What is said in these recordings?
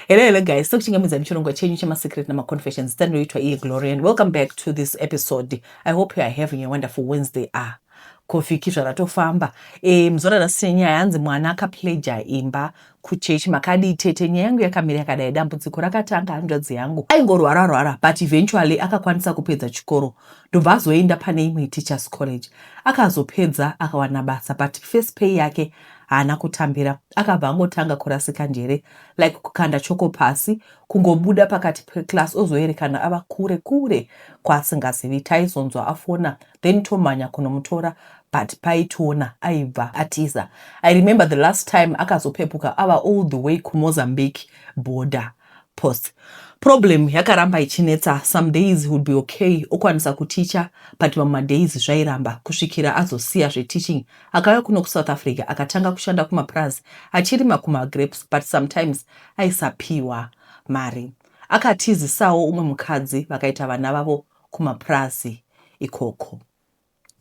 Hello, hello guys. So kuchingamidza muchirongwa chenyu chemasecret namaconfessions tanoitwa iye Glory and welcome back to this episode. I hope you are having a wonderful Wednesday. Ah, kofiki zvaratofamba. Eh, mzora rasine nyaya yanzi mwana akapleja imba kuchurch makadii tete nyaya yangu yakamira yakadai dambudziko rakatanga hanzvadzi yangu aingorwara rwara but eventually akakwanisa kupedza chikoro ndobva azoenda pane imwe teachers college akazopedza akawana basa but first pay yake haana kutambira Akabva angotanga kurasika njere like kukanda choko pasi kungobuda pakati peclass ozoerekana ava kure kure kwaasingazivi. Taizonzwa afona then tomhanya kunomutora but paitiona aibva atiza. I remember the last time akazopepuka ava all the way kuMozambique border. Pause. Problem yakaramba ichinetsa some days he would be okay okwanisa kuticha but mamwe madays zvairamba kusvikira azosiya zveteaching akauya kuno kuSouth Africa akatanga kushanda kumapurazi achirima kumagrapes but sometimes aisapiwa mari. Akatizisawo umwe mukadzi vakaita vana vavo kumapurazi ikoko.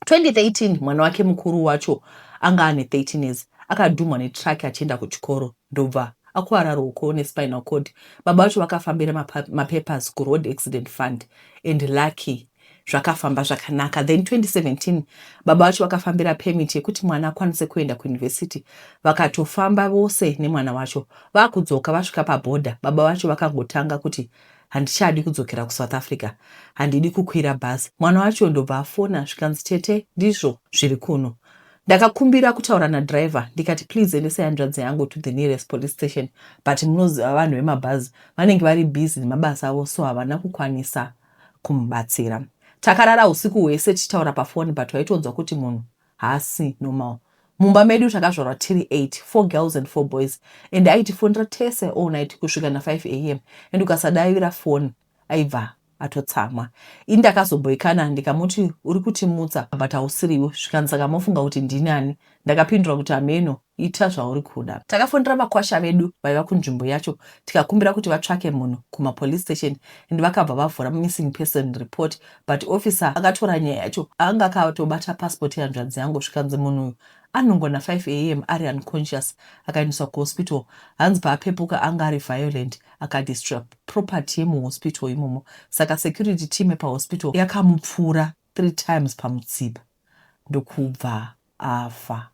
2013 mwana wake mukuru wacho anga ane 13 years akadhumhwa netruck achienda kuchikoro ndobva akuvara ruoko nespinal cord. Baba vacho vakafambira mapapers kuroad accident fund and lucky zvakafamba zvakanaka then 2017 baba vacho vakafambira permit yekuti mwana akwanise kuenda kuuniversity vakatofamba vose nemwana wacho vakudzoka vasvika paborder baba vacho vakangotanga kuti handichadi kudzokera kusouth africa handidi kukwira bhazi mwana wacho ndobva afona zvikanzi tete ndizvo zviri kuno ndakakumbira kutaura nadriver ndikati please endesai hanzvadzi yangu to the nearest police station but munoziva vanhu vemabhazi vanenge vari busy nemabasa avo so havana kukwanisa kumubatsira takarara usiku hwese tichitaura pafoni but waitonzwa kuti munhu Haasi normal. Mumba medu takazvarwa tiri 8, four girls and four boys and aitifonera tese all night kusvika na 5 am and ukasadavira foni aibva atotsamwa. Ini ndakazomboikana ndikamuti uri kutimutsa but hausiriwe zvikanzi saka mofunga kuti ndinani? Ndakapindura kuti hameno Ita zvauri kuda. Takafonera makwasha vedu vaiva kunzvimbo yacho tikakumbira kuti vatsvake munhu kuma police station and vakabva vavhura missing person report but officer akatora nyaya yacho anga akatobata passport yehanzvadzi yangu zvikanzi munhu uyu anongona 5am ari unconscious akaendeswa kuhospital hanzi paapepuka anga ari violent akadestroya property yemuhospital imomo saka security team yepahospital yakamupfuura three times pamutsipa ndokubva afa.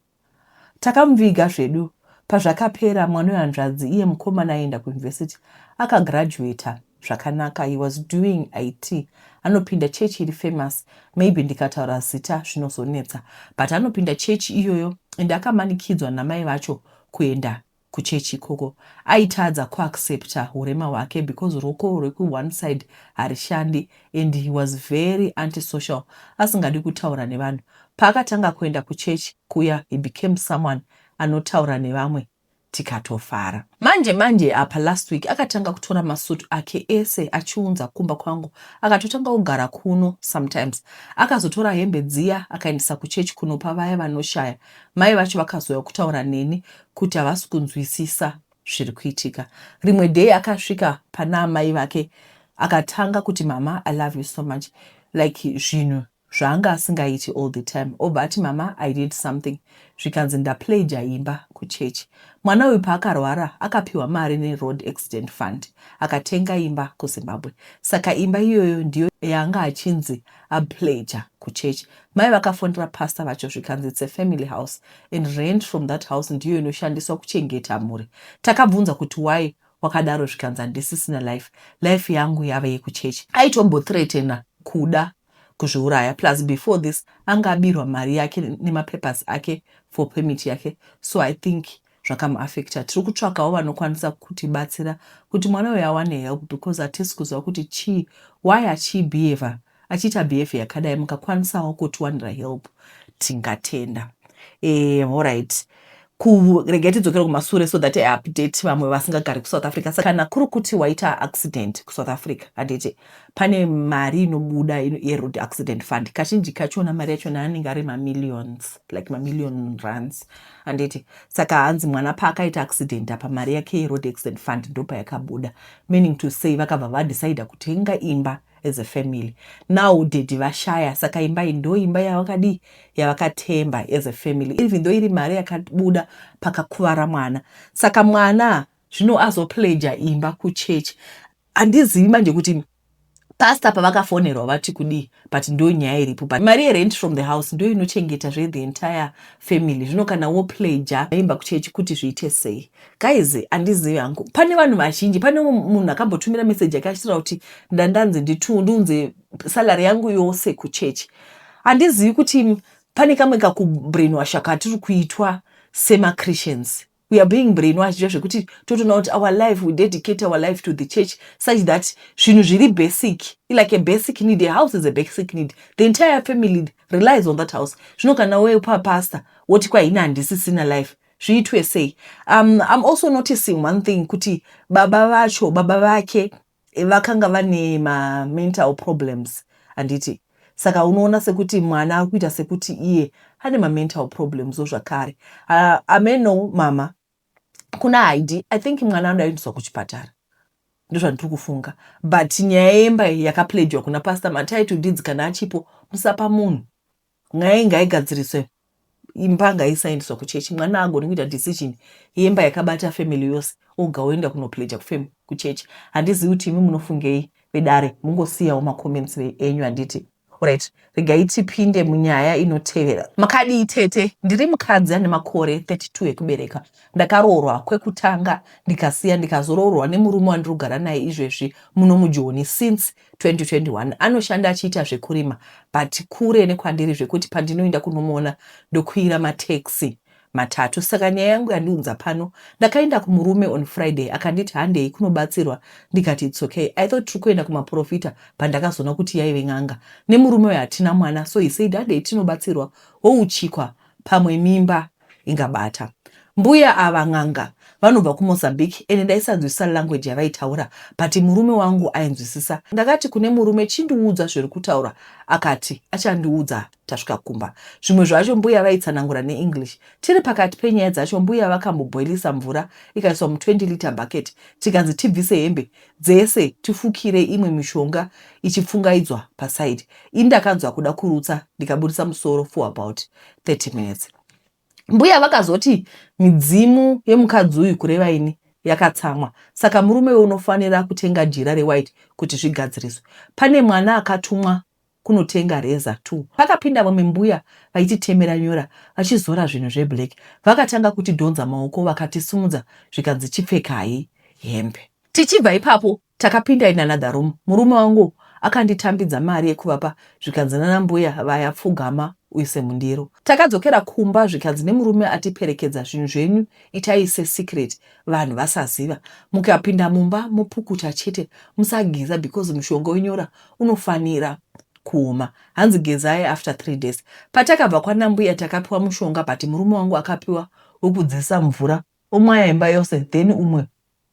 Takamuviga zvedu pazvakapera mwana wehanzvadzi iye mukomana aienda kuuniversity aka graduater zvakanaka he was doing it anopinda church iri famous maybe ndikataura zita zvinozonetsa but anopinda church iyoyo and akamanikidzwa namai vacho kuenda kuchechi ikoko aitadza kuaccepter hurema hwake because ruoko rweku one side harishandi and he was very anti social asingadi kutaura nevanhu. Paakatanga kuenda kuchechi kuya he became someone anotaura nevamwe tikatofara. Manje manje apa last week akatanga kutora masuit ake ese achiunza kumba kwangu akatotanga kugara kuno sometimes. Akazotora hembe dziya akaendesa kuchechi kunopa vaya vanoshaya. Mai vacho vakazouya kutaura neni kuti havasi kunzwisisa zviri kuitika. Rimwe day akasvika pana amai vake akatanga kuti mama I love you so much like zvinhu zvaanga asingaiti all the time obva ati mama I did something zvikanzi ndapleja imba kuchechi. Mwana uyu paakarwara akapiwa mari neroad accident fund akatenga imba kuZimbabwe saka imba iyoyo ndiyo yaanga achinzi apleja kuchechi Mai vakafonera pastor vacho zvikanzi it's a family house and rent from that house ndiyo inoshandiswa kuchengeta mhuri. Takabvunza kuti why wakadaro zvikanzi handisisina life, life yangu yave yekuchechi. Aitombothreatena kuda kuzviuraya plus before this anga abirwa mari yake nemapapers ake for permit yake so I think zvakamuaffecta tiri kutsvakawo vanokwanisa kutibatsira kuti mwana uyu awane help because hatisi kuziva kuti chii why achibehaver achiita behavior yakadai mukakwanisawo kutiwanira help tingatenda eh, horit kuregai tidzokere kumasure so that update vamwe vasingagari kusouth africa sa kana kuri kuti waita accident kusouth africa handiti pane mari inobuda yeroad accident fund kazhinji kachona mari yachona anenge ari mamillions like mamillion runs handiti saka hanzi mwana paakaita accident apa mari yake yeroad accident fund ndopayakabuda meaning to say vakabva vadecida kutenga imba as a family now dedi vashaya saka imba iyi ndo imba yavakadii yavakatemba as a family even though iri mari yakabuda pakakuvara mwana saka mwana zvino azopleja imba kuchechi Handizivi manje kuti pastor pavakafonerwa vati kudii but ndo nyaya iripo but mari yerent from the house ndo inochengeta zve the entire family zvino kana wo pledger aimba kuchechi kuti zviite sei guys handizivi hangu pane vanhu vazhinji pane munhu akambotumira message yake achitaura kuti ndandanzi nditundiunze salary yangu yose kuchechi handizivi kuti pane kamwe kakubrainwasha katiri kuitwa semachristians We are being brainwashed zviya zvekuti totoona kuti our life, we dedicate our life to the church such that zvinhu zviri basic, like a basic need, a house is a basic need, the entire family relies on that house. Zvino kana wauya papastor woti kwa ini handisisina life, zviitwe sei? Um, I'm also noticing one thing kuti baba vacho, baba vake Vakanga vane ma mental problems handiti saka unoona sekuti mwana ari kuita sekuti iye ane ma mental problems wo zvakare. Uh, ameno mama kuna haidi i think mwana anoda kuendeswa kuchipatara ndozvandiri kufunga but nyaya yemba yakapledgwa kuna pastor matai to deeds kana achipo musapa munhu nyaya iyi ngaigadziriswe imba ngaisaendeswa kuchechi mwana agoni kuita decision yemba yakabata family yose oga oenda kunopleja kufam kuchechi handizivi kuti imi munofungei vedare mungosiyawo macomments enyu handiti right regai tipinde munyaya inotevera makadii tete ndiri mukadzi ane makore 32 ekubereka ndakaroorwa kwekutanga ndikasiya ndikazoroorwa nemurume wandirugara naye izvezvi muno mujoni since 2021 anoshanda achiita zvekurima but kure nekwandiri zvekuti pandinoinda kunomuona ndokwira mataxi matatu saka nyaya yangu yandiunza pano ndakaenda kumurume on friday akanditi handei kunobatsirwa ndikati its okay i thought tiri kuenda kumaprofita pandakazoona kuti yaive n'anga nemurume uyo hatina mwana so he said handei tinobatsirwa wouchikwa pamwe mimba ingabata. Mbuya ava n'anga vanobva kuMozambique ende ndaisanzwisisa language yavaitaura but murume wangu ainzwisisa. Ndakati kune murume chindiudza zviri kutaurwa akati achandiudza tasvika kumba. Zvimwe zvacho mbuya vaitsanangura neEnglish. Tiri pakati penyaya dzacho mbuya vakamboboilisa mvura ikaiswa mu 20 litre bucket tikanzi tibvise hembe dzese tifukire imwe mishonga ichipfungaidzwa paside. Ini ndakanzwa kuda kurutsa ndikaburitsa musoro for about 30 minutes mbuya vakazoti midzimu yemukadzi uyu kureva ini yakatsamwa saka murume we unofanira kutenga jira rewhite kuti zvigadziriswe pane mwana akatumwa kunotenga reza t pakapinda vamwe mbuya vaititemera nyora vachizora zvinhu zveblack vakatanga kutidhonza maoko vakatisimudza zvikanzi chipfekai hembe tichibva ipapo Takapinda in another room murume wangu akanditambidza mari yekuvapa zvikanzi nana mbuya vaya pfugama uise mundiro. Takadzokera kumba zvikanzi nemurume atiperekedza zvinhu zvenyu itai se secret vanhu vasaziva mukapinda mumba mopukuta chete musageza because mushonga wenyora unofanira kuoma hanzi gezai after three days. Patakabva kwanambuya takapiwa mushonga but murume wangu akapiwa wekudzisa mvura Omwaya imba yose then umwe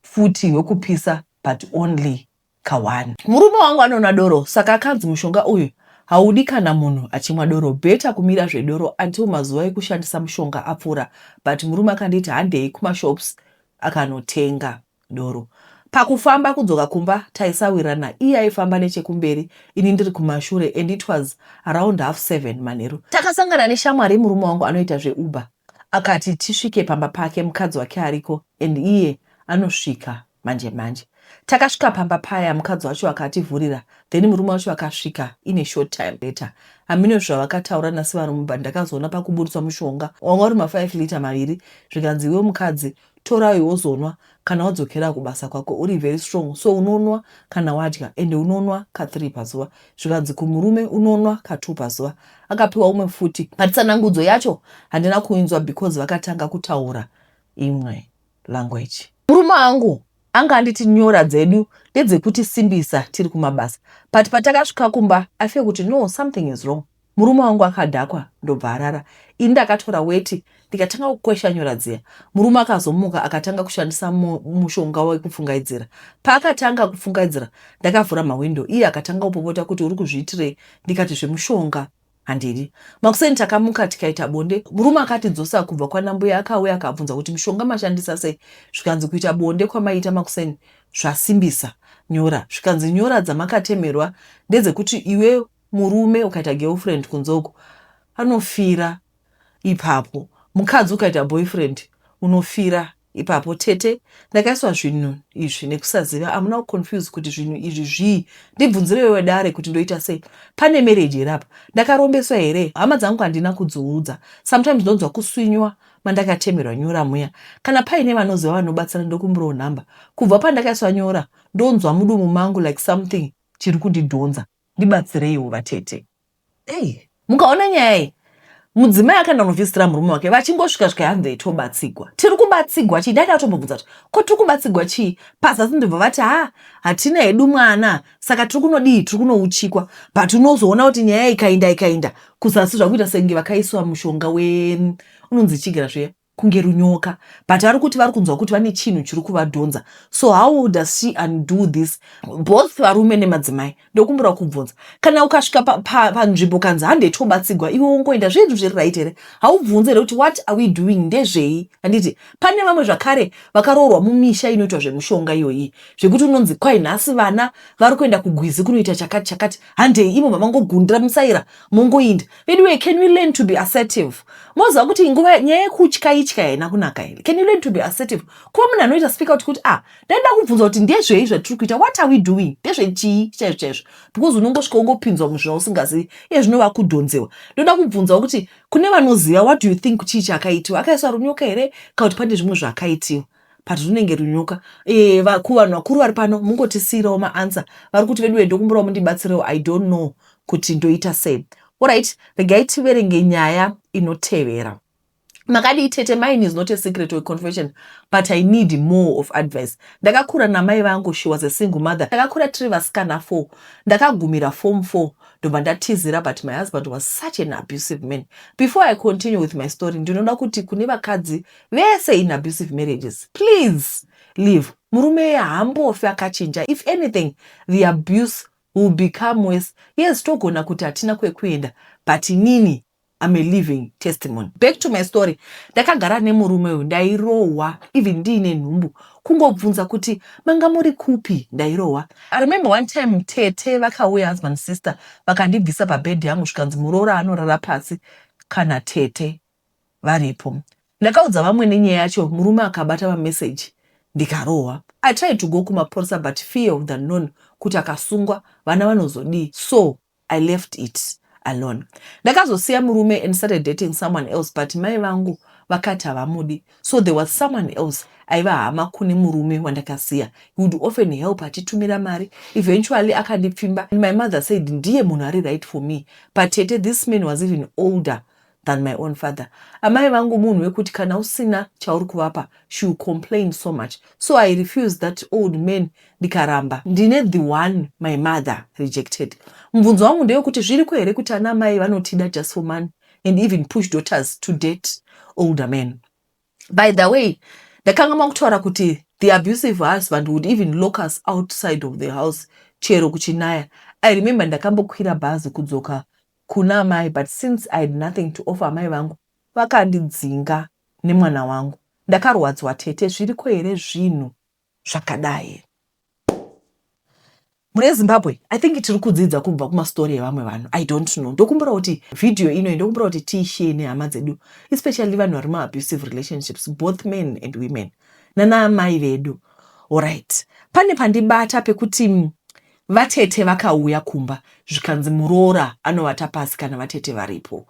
futi wekupisa but only ka one. Murume wangu anonwa doro saka akanzi mushonga uyu haudi kana munhu achimwa doro better kumira zvedoro until mazuva ekushandisa mushonga apfuura but murume akanditi handei kumashops akanotenga. doro. Pakufamba kudzoka kumba taisawirana iye aifamba nechekumberi ini ndiri kumashure and it was around half seven manheru. Takasangana neshamwari yemurume wangu anoita zveuber akati tisvike pamba pake mukadzi wake ariko and iye anosvika manje manje. Takasvika pamba paya mukadzi wacho akativhurira then murume wacho akasvika in a short time later. Hameno zvavakataura naSivarume but ndakazoona pakuburitswa mushonga wanga uri ma5 liter maviri zvikanzi iwe mukadzi torai wozonwa kana wadzokera kubasa kwako uri very strong so unonwa kana wadya ende unonwa ka 3 pazuva zvikanzi kumurume unonwa ka 2 pazuva akapiwa umwe futi but tsanangudzo yacho handina kuinzwa because vakatanga kutaura imwe language murume angu anga anditi nyora dzedu ndedzekutisimbisa tiri kumabasa but patakasvika kumba i feel kuti no something is wrong Murume wangu akadhakwa ndobva arara ini ndakatora weti ndikatanga kukweshanyura dziya. Murume akazomuka akatanga kushandisa mushonga wekupfungaidzira. Paakatanga kupfungaidzira ndakavhura mahwindo iye akatanga kupopota kuti uri kuzviitirei ndikati zvemushonga handidi. Makuseni takamuka tikaita bonde murume akatidzosa kubva kwanambuya akauya akabvunza kuti mushonga mashandisa sei zvikanzi kuita bonde kwamaiita makuseni zvasimbisa nyora zvikanzi nyora dzamakatemerwa ndedzekuti iwe Murume ukaita girlfriend kunze uko anofira ipapo. Mukadzi ukaita boyfriend unofira ipapo. Tete ndakaiswa zvinhu izvi nekusaziva. Amuna kuconfuse kuti zvinhu izvi zvii. Ndibvunzire iwe dare kuti ndoita sei. Pane marriage here apa? Ndakarombeswa here? Hama dzangu handina kudziudza. Sometimes ndonzwa kuswinywa mandakatemerwa nyora muya. Kana paine vanoziva vanobatsira ndokumbirawo number. Kubva pandakaiswa nyora ndonzwa mudumu mangu like something chiri kundidhonza. Ndibatsireiwo vatete. Hey. Mukaona nyaya iyi mudzimai akaenda kunovhizitira murume wake vachingosvika svika hanzi itobatsigwa tiri kubatsigwa chii ndaida atombobvunza kuti ko tiri kubatsigwa chii pazasi ndibva vati ha hatina hedu mwana saka tiri kunodii tiri kunouchikwa but unozoona kuti nyaya ikainda ikainda kuzasi zvakuita senge vakaiswa mushonga we unonzi chigira zviya kunge runyoka but vari kuti vari kunzwa kuti vane chinhu chiri kuvadhonza so how does she undo this both varume nemadzimai ndokumbira kubvunza kana ukasvika panzvimbo pa, pa kanzi hande tobatsigwa iwe wongoenda zvinhu zviri right here haubvunze here kuti what are we doing ndezvei handiti pane vamwe zvakare vakaroorwa mumisha inoitwa zvemushonga iyoyi zvekuti unonzi kwai nhasi vana vari kuenda kugwizi kunoita chakati chakati handei imo mavangogundira musaira mongoinda veduwe can we learn to be assertive moziva kuti nguva nyaya yekutya itya haina kunaka here can you learn to be assertive kuva munhu anoita speak out kuti ah ndaida kubvunza kuti ndezvei zvatiri kuita what are we doing ndezvechii chaizvo chaizvo because unongosvika ungopinzwa muzvina usingazivi iye zvinova kudhonzewa ndoda kubvunzawo kuti kune vanoziva what do you think chii chakaitiwa akaiswa runyoka here kana kuti pane zvimwe zvakaitiwa but runenge runyoka eh, kuvanhu vakuru vari pano mungotisiirawo maansa vari kuti veduwe ndokumbirawo mundibatsirewo i don't know kuti ndoita sei orit regai tiverenge nyaya inotevera makadii tete mine is not a secret or confession but i need more of advice ndakakura namai vangu she was a single mother ndakakura tiri vasikana four ndakagumira form four ndobva ndatizira but my husband was such an abusive man before i continue with my story ndinoda kuti kune vakadzi vese in abusive marriages please leave murume iye haambofi akachinja if anything the abuse will become worse yes togona kuti hatina kwekuenda but inini I'm a living testimony back to my story ndakagara nemurume uyu ndairohwa even ndiine nhumbu kungobvunza kuti manga muri kupi ndairohwa I remember one time tete vakauya husband sister vakandibvisa pabed yangu zvikanzi muroora anorara pasi kana tete varipo. Ndakaudza vamwene nyaya yacho murume akabata mamessage ndikarohwa. I tried to go kumapurisa but fear of the unknown kuti akasungwa vana vanozodii so I left it alone. Ndakazosiya murume and started dating someone else but mai vangu vakati havamudi so there was someone else aiva hama kune murume wandakasiya. He would often help achitumira mari. Eventually akandipfimba and my mother said ndiye munhu ari right for me. Patete this man was even older than my own father amai vangu munhu wekuti kana usina chauri kuvapa she will complain so much so i refuse that old man ndikaramba ndine the one my mother rejected mubvunzo wangu ndewekuti zviriko here kuti ana amai vanotida just for money and even push daughters to date older man by the way ndakanga makutaura kuti the abusive husband would even lock us outside of the house chero kuchinaya i remember ndakambokwira bhazi kudzoka kuna amai but since I had nothing to offer amai vangu vakandidzinga nemwana wangu ndakarwadzwa tete zviriko here zvinhu zvakadai mune Zimbabwe I think tiri kudzidza kubva kuma story evamwe vanhu I don't know ndokumbura kuti video ino ndokumbura kuti tiishare nehama dzedu especially vanhu vari mu abusive relationships both men and women nana amai vedu alright pane pandibata pekuti Vatete vakauya kumba zvikanzi muroora anovata pasi kana vatete varipo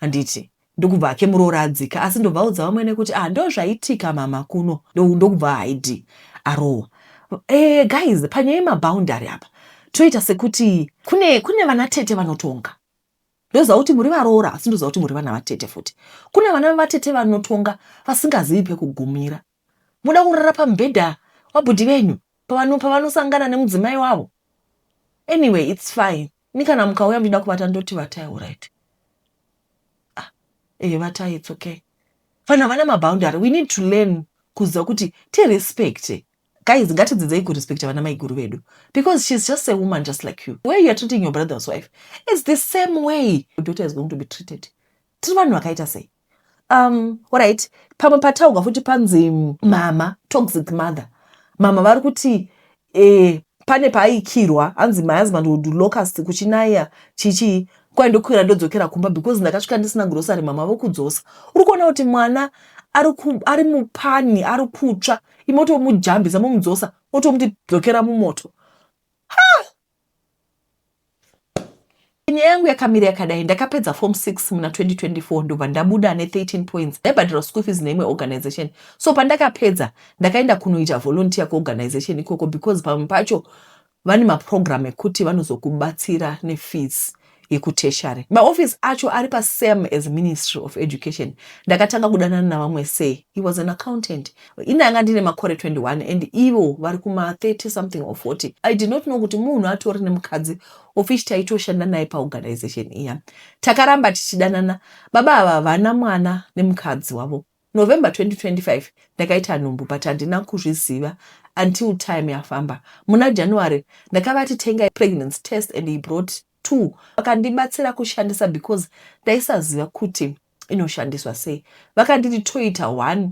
handiti ndokubva hake muroora adzika asi ndobvaudza vamwene kuti ah ndozvaitika mama kuno ndokubva haidi arohwa eh guys panyaya yemaboundary apa toita sekuti kune kune vana tete vanotonga ndoziva kuti muri varoora asi ndoziva kuti muri vana vatete futi kune vana vatete vanotonga vasingazivi pekugumira Moda kurara pamubhedha wabhudhi venyu pavanosangana nemudzimai wavo? Anyway it's fine. Ini kana mukauya muchida kuvata ndoti vatai urit. Ah, eh vatai it's okay. Vanhu havana maboundary. We need to learn kuziva kuti tirespecte guys ngatidzidzei kurespecta vana maiguru vedu because she's just a woman just like you where you are treating your brother's wife it's the same way your daughter is going to be treated tiri vanhu vakaita sei um orit pamwe pataurwa futi panzi mama toxic mother mama vari kuti eh, pane paaikirwa hanzi my husband would locust kuchinaya chichii kwai ndokwira ndodzokera kumba because ndakasvika ndisina grocery mama vokudzosa uri kuona kuti mwana ari mupani ari kutsva imotomujambisa momudzosa otomuti dzokera mumoto Nyaya yangu yakamira yakadai, ndakapedza form 6 muna 2024 ndobva ndabuda ne 13 points ndaibhadhirwa school fees neimwe organization. So pandakapedza ndakaenda kunoita volunteer kuorganization ikoko because pamwe pacho vane maprogram ekuti vanozokubatsira nefees yekutertiary maoffice acho ari pasame as ministry of education ndakatanga kudanana navamwe say he was an accountant ini anga ndine makore 21 and ivo vari kuma 30 something or 40 i did not know kuti munhu atori nemukadzi ofish taitoshanda naye paorganization iya takaramba tichidanana baba ava vana mwana nemukadzi wavo November 2025 ndakaita nhumbu but handina kuzviziva until time yafamba. Muna January ndakavati tengai pregnancy test and he brought two. Vakandibatsira kushandisa because ndaisaziva kuti inoshandiswa sei. Vakanditi toita one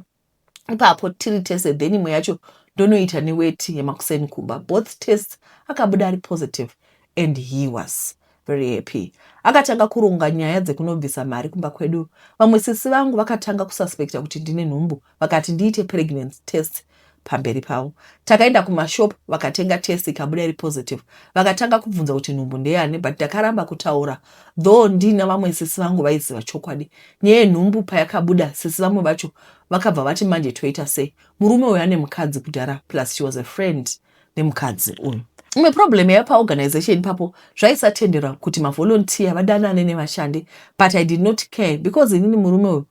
ipapo tiri tese then imwe yacho ndonoita neweti yemakuseni kumba. Both tests akabuda ari positive and he was very happy akatanga kuronga nyaya dzekunobvisa mari kumba kwedu vamwe sisi vangu vakatanga kususpecta kuti ndine nhumbu vakati ndiite pregnancy test pamberi pavo takaenda kumashop vakatenga test ikabuda iri positive vakatanga kubvunza kuti nhumbu ndeyani but ndakaramba kutaura though ndina vamwe sisi vangu vaiziva chokwadi nyaya yenhumbu payakabuda sisi vamwe vacho vakabva vati manje toita sei murume uyo ane mukadzi kudhara plus she was a friend nemukadzi uyu imwe problem yaiva paorganization ipapo zvaisatenderwa kuti mavolunteer vadanane nevashandi but i did not care because inini murume uyu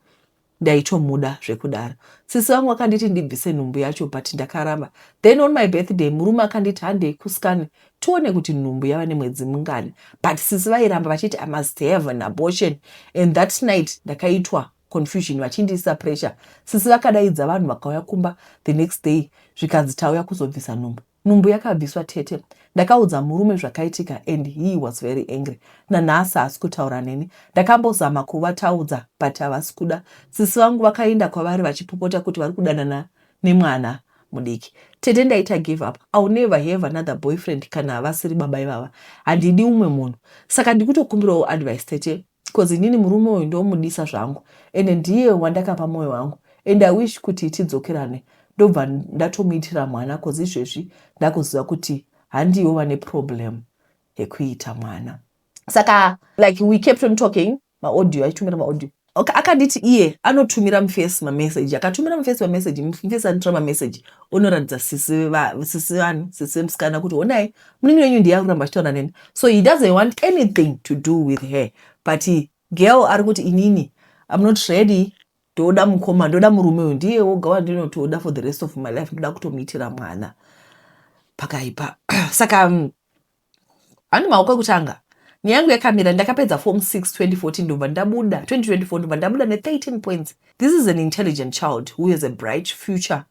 ndaitomuda zvekudaro sisi vangu vakanditi ndibvise nhumbu yacho but ndakaramba then on my birthday murume akanditi handei kuskani tione kuti nhumbu yava nemwedzi mungani but sisi vairamba vachiti i must have an abortion and that night ndakaitwa confusion vachindiisa pressure sisi vakadaidza vanhu vakauya kumba the next day zvikanzi tauya kuzobvisa nhumbu nhumbu yakabviswa tete ndakaudza murume zvakaitika and he was very angry nanhasi haasi kutaura neni ndakambozama kuvataudza but havasi kuda sisi vangu vakaenda kwavari vachipopota kuti vari kudanana nemwana mudiki tete ndaita give up ill never have another boyfriend kana havasiri baba ivava handidi umwe munhu saka ndikutokumbirawo advice tete coz inini murume uyu ndomudisa zvangu ende ndiye wandakapa moyo wangu and i wish kuti tidzokerane ndobva ndatomuitira mwana coz izvezvi ndakuziva kuti handiwo vane problem yekuita mwana saka like we kept on talking maaudio aitumira maaudio okay, akanditi iye anotumira mufesi mameseji akatumira mufesi mameseji mufesi anotora mameseji unoratidza sisi vani sisi vemusikana kuti honai munini wenyu ndiye ari kuramba achitaura neni so he doesn't want anything to do with her but girl ari kuti inini im not ready ndoda mukoma ndoda murume uyu ndiye woga wandinotoda for the rest of my life ndoda kutomuitira mwana pakaipa saka mm, handi maoko ekutanga nyaya yangu yakamira ndakapedza form 6 2014 ndobva ndabuda 2024 ndobva ndabuda ne13 points this is an intelligent child who has a bright future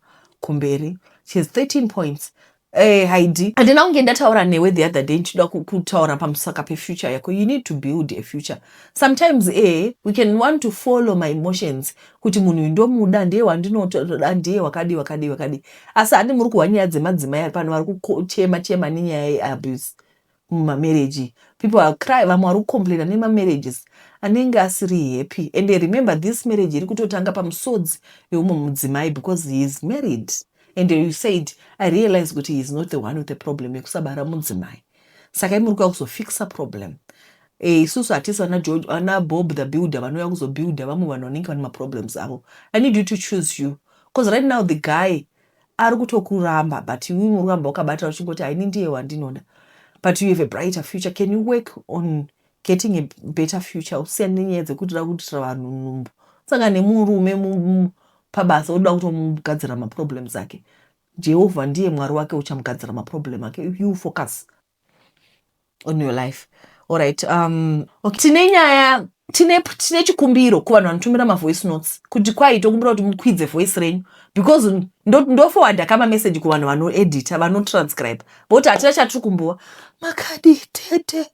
kumberi she has 13 points Eh, haidi handina kunge ndataura newe the other day ndichida kutaura pamusaka pefuture yako you need to build a future sometimes eh, we can want to follow my emotions kuti munhu uyu ndomuda ndiye wandinotoda ndiye wakadii wakadii wakadii asi handi muri kuhwa nyaya dzemadzimai ari pano vari kuchema chema nenyaya yeabuse muma marriage people are cry vamwe vari kucomplaina nema marriages anenge asiri happy ende remember this marriage iri kutotanga pamusodzi weumwe mudzimai because he is married ende you said i realize kuti he is not the one with the problem yekusabara mudzimai saka imuri kuya kuzofixa problem Eh, isusu hatisi vana george vana bob the builder vanouya kuzobuilder vamwe vanhu vanenge vane maproblems avo i need you to choose you because right now the guy ari kutokuramba but iwe unoramba wakabata uchingoti haini ndiye wandinoda but you have a brighter future can you work on getting a better future usiyane nenyaya dzekuti da kuitira vanhu nhumbu saka nemurume pabasa oda kutomugadzira maproblems ake jehovha ndiye mwari wake uchamugadzira maproblem ake you focus on your life alright um okay. tine nyaya tine tine chikumbiro kuvanhu vanotumira mavoice notes kuti kwai tokumbira kuti mukwidze voice renyu because ndofowadha kama message kuvanhu vanoedita vanotranscribe voti hatina chatiri kumbuwa makadi tete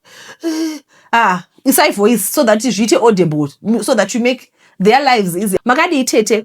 eh, ah isai voice so that zviite audible so that you make their lives easy makadii tete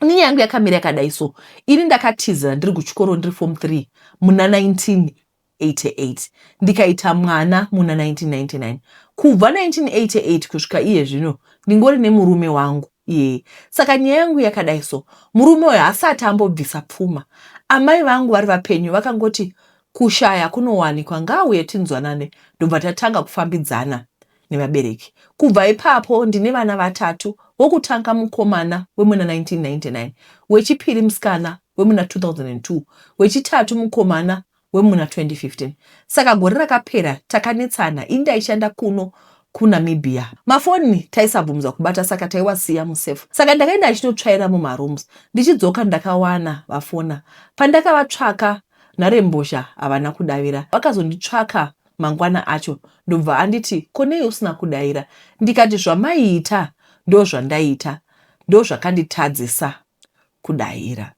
Ini nyaya yangu yakamira yakadai so ini ndakatizira ndiri kuchikoro ndiri form 3 muna 1988 ndikaita mwana muna 1999 kubva 1988 kusvika iye zvino ndingori nemurume wangu iyeye saka nyaya yangu yakadai so murume uyo hasati ambobvisa pfuma amai vangu vari vapenyu vakangoti kushaya kunowanikwa ngaauye tinzwanane ndobva tatanga kufambidzana nevabereki. Kubva ipapo ndine vana vatatu, wokutanga mukomana wemuna 1999, wechipiri musikana wemuna 2002, wechitatu mukomana wemuna 2015. Saka gore rakapera takanetsana, ini ndaishanda kuno kuNamibia. Mafoni taisabvumidzwa kubata saka taiwasiya musafe. Saka ndakaenda ndichinotsvaira mumarooms, ndichidzoka ndakawana vafona. Pandakavatsvaka nharembozha havana kudavira. Vakazonditsvaka mangwana acho ndobva anditi ko nei usina kudaira ndikati zvamaiita ndozvandaita ndozvakanditadzisa kudaira.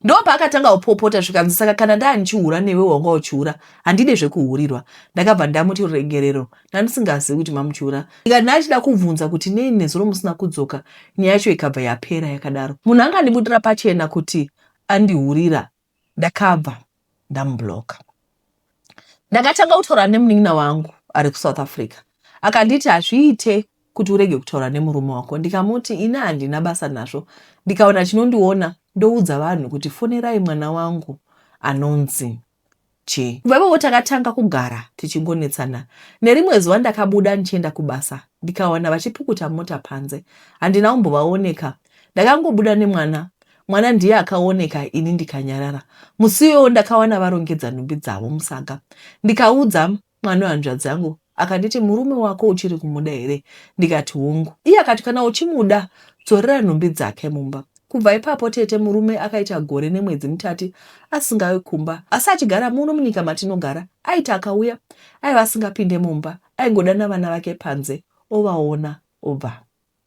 Ndopaakatanga kupopota zvikanzi saka kana ndaa ndichihura newe wanga uchihura handide zvekuhurirwa ndakabva ndamuti ruregerero ndandisingazivi kuti mamuchihura ndikati ndaichida kubvunza kuti nei nezuro musina kudzoka nyaya yacho ikabva yapera yakadaro munhu angandibudira pachena kuti andihurira ndakabva ndamubloka ndakatanga kutaura nemunin'ina wangu ari kusouth africa akanditi hazviite kuti urege kutaura nemurume wako ndikamuti ini handina basa nazvo ndikaona chinondiona ndoudza vanhu kuti fonerai mwana wangu anonzi Che. Ipapowo takatanga kugara tichingonetsana. Nerimwe zuva ndakabuda ndichienda kubasa ndikawana vachipukuta mota panze. Handina kumbovaoneka. Ndakangobuda nemwana. Mwana ndiye akaoneka ini ndikanyarara. Musi iwoyo ndakawana varongedza nhumbi dzavo musaga. Ndikaudza Mwana wehanzvadzi yangu akanditi, Murume wako uchiri kumuda here? Ndikati, Hongu. Iye akati, Kana uchimuda, dzorera nhumbi dzake mumba. Kubva ipapo tete murume akaita gore nemwedzi mitatu asingauyi kumba asi achigara muno munyika matinogara. Aiti akauya aiva asingapinde mumba, aingodana vana vake panze ovaona obva.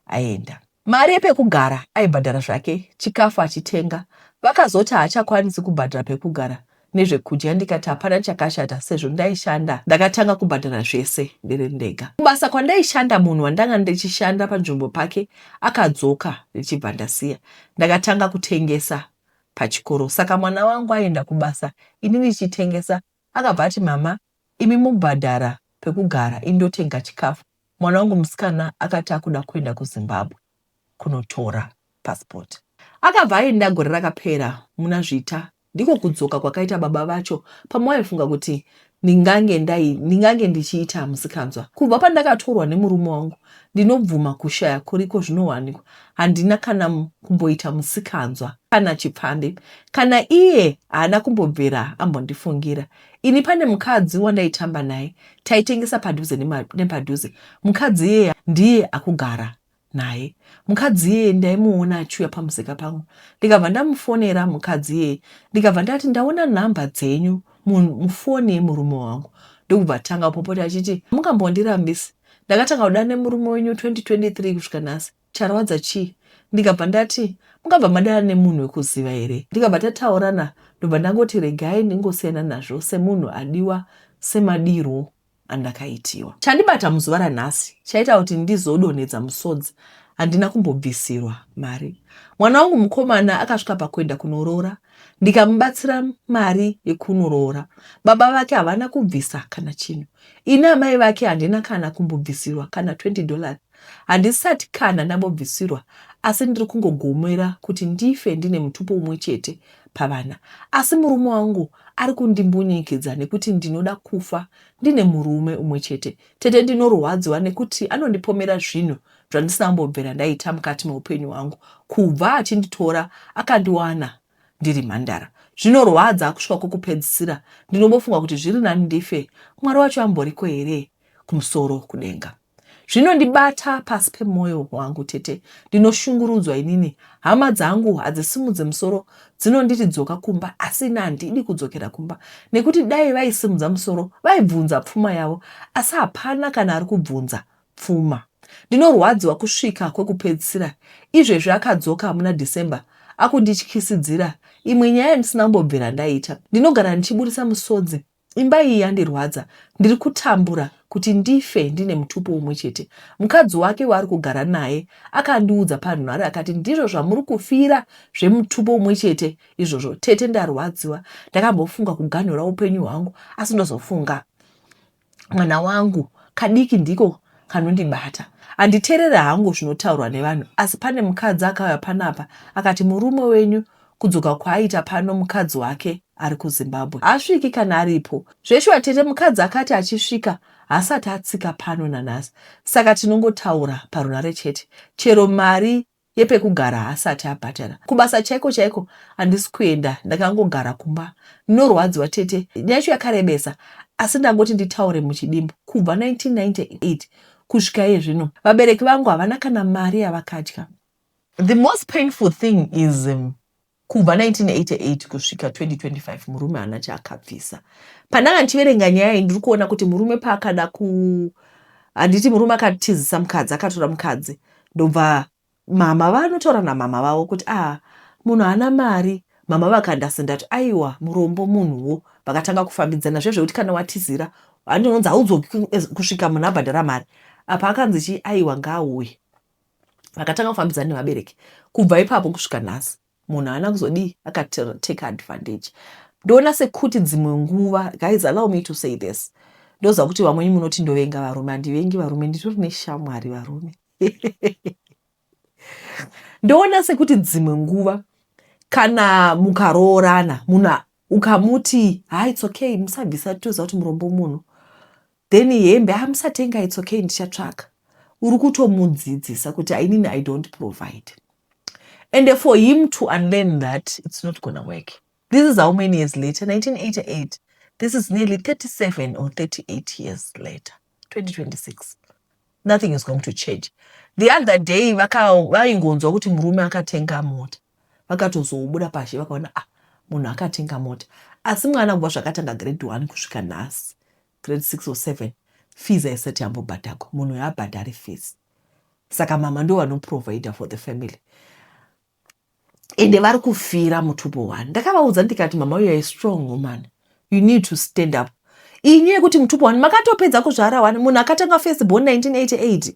aenda. Mari yepekugara aibhadhara zvake chikafu achitenga vakazoti haachakwanisi kubhadhara pekugara nezvekudya ndikati hapana chakashata sezvo ndaishanda ndakatanga kubhadhara zvese ndiri ndega. Kubasa kwandaishanda munhu wandanga ndichishanda panzvimbo pake akadzoka ndichibva ndasiya ndakatanga kutengesa pachikoro saka mwana wangu aienda kubasa ini ndichitengesa akabva ati mama imi mobhadhara pekugara ini ndotenga chikafu Mwana wangu musikana akati akuda kuenda kuZimbabwe kunotora passport. Akabva aenda gore rakapera muna Zvita ndiko kudzoka kwakaita baba vacho pamwe vaifunga kuti ndingange ndai ndingange ndichiita musikanzwa. Kubva pandakatorwa nemurume wangu ndinobvuma kushaya kuriko zvinowanikwa handina kana kumboita musikanzwa kana chipfambi kana iye haana kumbobvira ambondifungira. Ini pane mukadzi wandaitamba naye taitengesa padhuze nepadhuze. Mukadzi iyeye ndiye akugara naye. Mukadzi iyeye ndaimuona achiuya pamusika pangu ndikabva ndamufonera mukadzi iyeye ndikabva ndati ndaona nhamba dzenyu mufoni yemurume wangu ndokubva tanga kupopota achiti mungambondirambisi ndakatanga kudana nemurume wenyu 2023 kusvika nhasi Charwadza chii? Ndikabva ndati mungabva madana nemunhu wekuziva here? Ndikabva tataurana ndobva ndangoti regai ndingosiyana nazvo semunhu adiwa semadirwo andakaitiwa. Chandibata muzuva ranhasi chaita kuti ndizodonhedza musodzi handina kumbobvisirwa mari. Mwana wangu mukomana akasvika pakuenda kunoroora ndikamubatsira mari yekunoroora. Baba vake havana kubvisa kana chinhu. Ini amai vake handina kana kumbobvisirwa kana 20 dollars. Handisati kana ndambobvisirwa asi ndiri kungogomera kuti ndife ndine mutupo umwe chete pavana asi murume wangu ari kundimbunyikidza nekuti ndinoda kufa ndine murume umwe chete. Tete ndinorwadziwa nekuti anondipomera zvinhu zvandisina kumbobvera ndaita mukati meupenyu hwangu kubva achinditora akandiwana ndiri mhandara. Zvinorwadza kusvika kwekupedzisira ndinobofunga kuti zviri nani ndife Mwari wacho amboriko here kumusoro kudenga. Zvinondibata pasi pemoyo wangu tete ndinoshungurudzwa inini hama dzangu hadzisimudze musoro dzinonditi dzoka kumba asi ini handidi kudzokera kumba nekuti dai vaisimudza musoro vaibvunza pfuma yavo asi hapana kana ari kubvunza pfuma ndinorwadziwa kusvika kwekupedzisira izvezvi akadzoka muna December akundityisidzira imwe nyaya ndisina kumbobvira ndaita ndinogara ndichiburitsa musodzi Imba iyi yandirwadza, ndiri kutambura kuti ndife ndine mutupo umwe chete. Mukadzi wake waari kugara naye akandiudza panhare akati ndizvo zvamuri kufira zvemutupo umwe chete izvozvo. Tete ndarwadziwa, ndakambofunga kuganhura upenyu hwangu asi ndozofunga mwana wangu kadiki ndiko kanondibata. Handiterere hangu zvinotaurwa nevanhu asi pane mukadzi akauya panapa akati murume wenyu Kudzoka kwaaita pano mukadzi wake ari kuZimbabwe haasviki kana aripo. Zveshuwa tete mukadzi akati achisvika haasati atsika pano nanhasi saka tinongotaura parunhare chete. Chero mari yepekugara haasati abhadhara. Kubasa chaiko chaiko handisi kuenda ndakangogara kumba. Ndinorwadziwa tete. Nyaya yacho yakarebesa asi ndangoti nditaure muchidimbu. Kubva 1998 kusvika iye zvino vabereki vangu havana kana mari yavakadya. The most painful thing is um, kubva 1988 kusvika 2025 murume haana chaakabvisa. Pandanga ndichiverenga nyaya iyi ndiri kuona kuti murume paakada ku handiti murume akatizisa mukadzi akatora mukadzi ndobva mama vanotaura namama vavo kuti ah munhu haana mari mama vakandasendati aiwa murombo munhuwo vakatanga kufambidzana zve zvekuti kana watizira handinonzi haudzo kusvika munhu abhadhara mari apa akanzi chii aiwa ngaauye vakatanga kufambidzana nevabereki kubva ipapo kusvika nhasi munhu haana kuzodii akatake advantage ndoona sekuti dzimwe nguva guys allow me to say this ndoziva kuti vamweni munoti ndovenga varume handivengi varume nditori neshamwari varume ndoona sekuti dzimwe nguva kana mukaroorana munhu ukamuti ha ah, its okay musabvisa toziva kuti murombo munhu Then hembe ah musatenga it's okay ndichatsvaka. Uri kutomudzidzisa kuti ainini I don't provide. And for him to unlearn that it's not gonna work. This is how many years later 1988. This is nearly 37 or 38 years later 2026. Nothing is going to change. The other day vaingonzwa kuti murume akatenga mota. vakatozobuda pazhe vakaona ah munhu akatenga mota asi mwana kubva zvakatanga grade one kusvika nhasi grade six or seven fees haisati yambobhadhagwa munhu uyo abhadhari fees saka mama ndo vanoprovider for the family ende vari kufira mutupo one ndakavaudza ndikati mama uyo a strong woman you need to stand up inyu yekuti mutupo one makatopedza kuzvara one munhu akatanga first born 1988